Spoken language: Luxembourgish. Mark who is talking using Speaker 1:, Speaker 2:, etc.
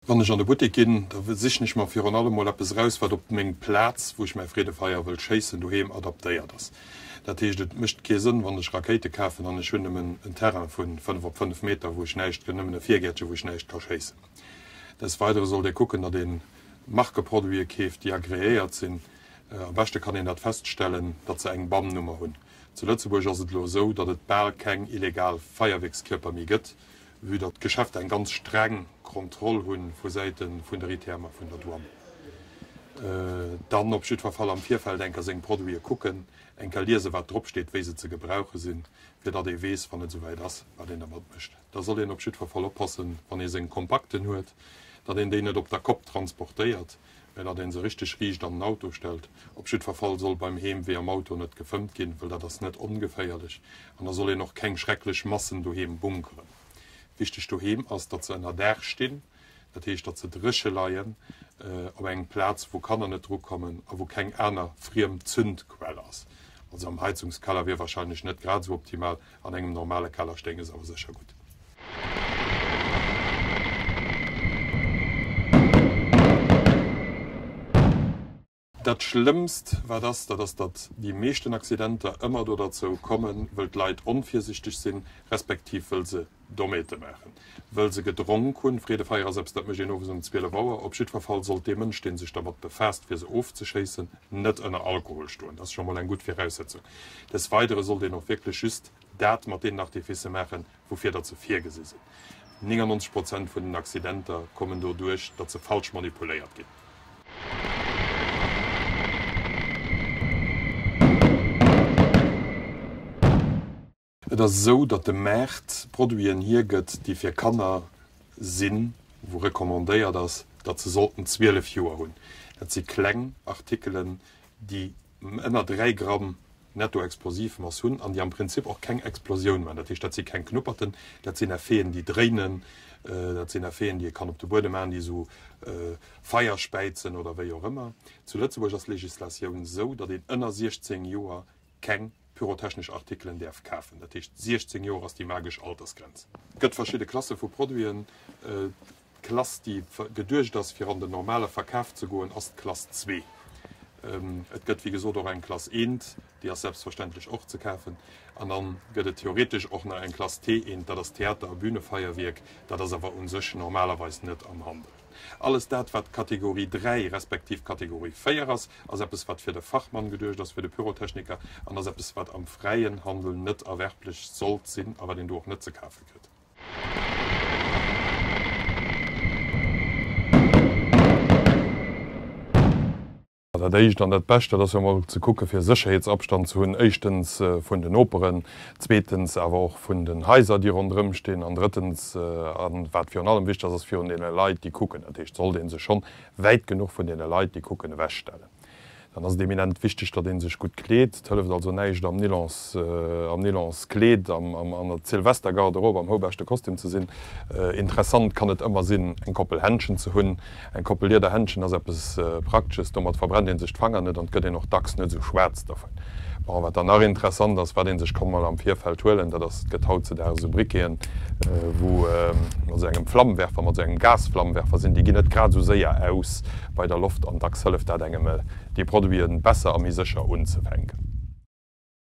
Speaker 1: Wann ech an de Buttek ginn, da sichen ech mer virun allem mol eppes eraus, wat op meng Plaz, wou ech mäi Freedefeier wëll schéissen, doheem adaptéiert ass. Dat heescht, et mécht kee Sënn, wann ech Rakéite kafen an ech hunn nëmmen en Terrain vu fënnef op fënnef Meter, wou ech näischt, nëmmen e Virgäertchen, wou ech näischt ka schéissen. Des Weidere sollt ee kucken, datt ee Markeproduite keeft, déi agreéiert sinn. Am beschte kann een dat feststellen, datt se eng BAM-Nummer hunn. Zu Lëtzebuerg ass et elo esou, datt et bal keng illegal Feierwierkskierper méi gëtt, vue datt d'Geschäfter eng ganz streng Kontroll hu vu Säite vun der ITM a vun der Douane. Dann op jiddwer Fall am Virfeld enker seng Produite kucken, enker liesen, wat drop steet, wéi se ze gebrauche sinn, fir datt ee weess, wann et esouwäit ass, wat een dermat mécht. Da soll een op jiddwer Fall oppassen, wann ee seng Kompakten huet, datt een déi net op der Kopp transportéiert. mä datt een se richteg riicht an den Auto stellt. Op jiddwer Fall soll beim Heemwee am Auto net gefëmmt ginn, well dat ass net ongeféierlech. An da soll een och keng schrecklech Massen doheem bunkeren. Wichteg doheem ass, datt se ënner Daach stinn, dat heescht, datt se dréche leien, op engem Plaz, wou Kanner net dru kommen a wou keng aner friem Zündquell ass. Also am Heizungskeller wier wahrscheinlech net grad esou optimal, An engem normale Keller stéinge se awer sécher gutt. Dat Schlëmmst wat ass, dat ass, datt déi meeschten Accidenter ëmmer do derzou kommen, wëll d'Leit onvirsichteg sinn, respektiv wëll se Dommheete maachen. wëll se gedronk hunn. Freedefeier ass eppes, dat mécht een owes um 12 Auer. Op jiddwer Fall sollt dee Mënsch, dee sech dermat befaasst, fir se ofzeschéissen, net ënner Alkohol stoen. Dat ass scho mol eng gutt Viraussetzung. Des Weidere sollt een och wierklech just dat mat deenen Artificë maachen, woufir datt se virgesi sinn. 99 Prozent vun den Accidenter kommen doduerch, datt se falsch manipuléiert ginn. Et ass esou, datt de Maart Produiten hiergëtt, déi fir Kanner sinn, wou recommandéiert ass, datt se sollten 12 Joer hunn. Dat si kleng Artikelen, déi ënner 3 Gramm Nettoexplosivmass hunn an déi am Prinzip och keng Explosioun maachen. Dat heescht, dat si keng Knupperten, dat sinn Effeten, déi dréinen, dat sinn Effeten, déi ee kann op de Buedem maachen, déi esou Feier späizen oder wéi och ëmmer. Zu Lëtzebuerg ass d'Legislatioun esou, datt een ënner 16 Joer keng pyrotechnesch Artikelen däerf kafen. Dat heescht 16 Joer ass déi magesch Altersgrenz. Et gëtt verschidde Klasse vu Produiten. D'Klass déi geduecht ass fir an den normale Verkaf ze goen ass d'Klass zwee. Et gëtt wéi gesot och eng Klass eent, déi ass selbstverständlech och ze kafen. An dann gëtt et theoretesch och nach eng Klass T eent, dat ass Theater a Bühnefeierwierk. Dat ass awer u sech normalerweis net am Handel. Alles dat, wat Kategorie 3 respektiv Kategorie 4 ass, ass eppes, wat fir de Fachmann geduecht ass, fir de Pyrotechniker, an ass eppes, wat am fräien Handel net erwerblech sollt sinn a wat een do och net ze kafe kritt. Dat éischt an dat bescht, dat ass jo emol ze kucke fir Sécherheetsabstand ze hunn, éischtens vun den Noperen, zweetens awer och vun den Haiser, déi ronderëm stinn, an drëttens, a wat virun allem wichteg ass, ass virun deene Leit, déi kucken. Dat heescht, sollt ee sech schonn wäit genuch vun deene Leit, déi kucken, ewechstellen, dann ass et eminent wichteg, datt ee sech gutt kleet. Et hëlleft also näischt am Nylons Kleed an an der Zilvester Garderobe am houbeschte Kostüm ze sinn. Interessant kann et ëmmer sinn eng Koppel Händschen ze hunn. Eng Koppel Lieder Händschen ass eppes Praktesches, domat verbrennt een sech d'Fanger net an et gëtt een och dacks net esou schwaarz dovun. Bon, wat dann nach interessant ass, wat een sech kann mol am Virfeld huelen, dat ass, et gëtt hautzedags esou Briqueten, wou mat esou engem Flammenwerfer, mat esou engem Gasflammenwerfer sinn, déi ginn net grad esou séier aus bei der Loft an dacks hëlleft dat engem déi Produiten besser a méi sécher unzefänken.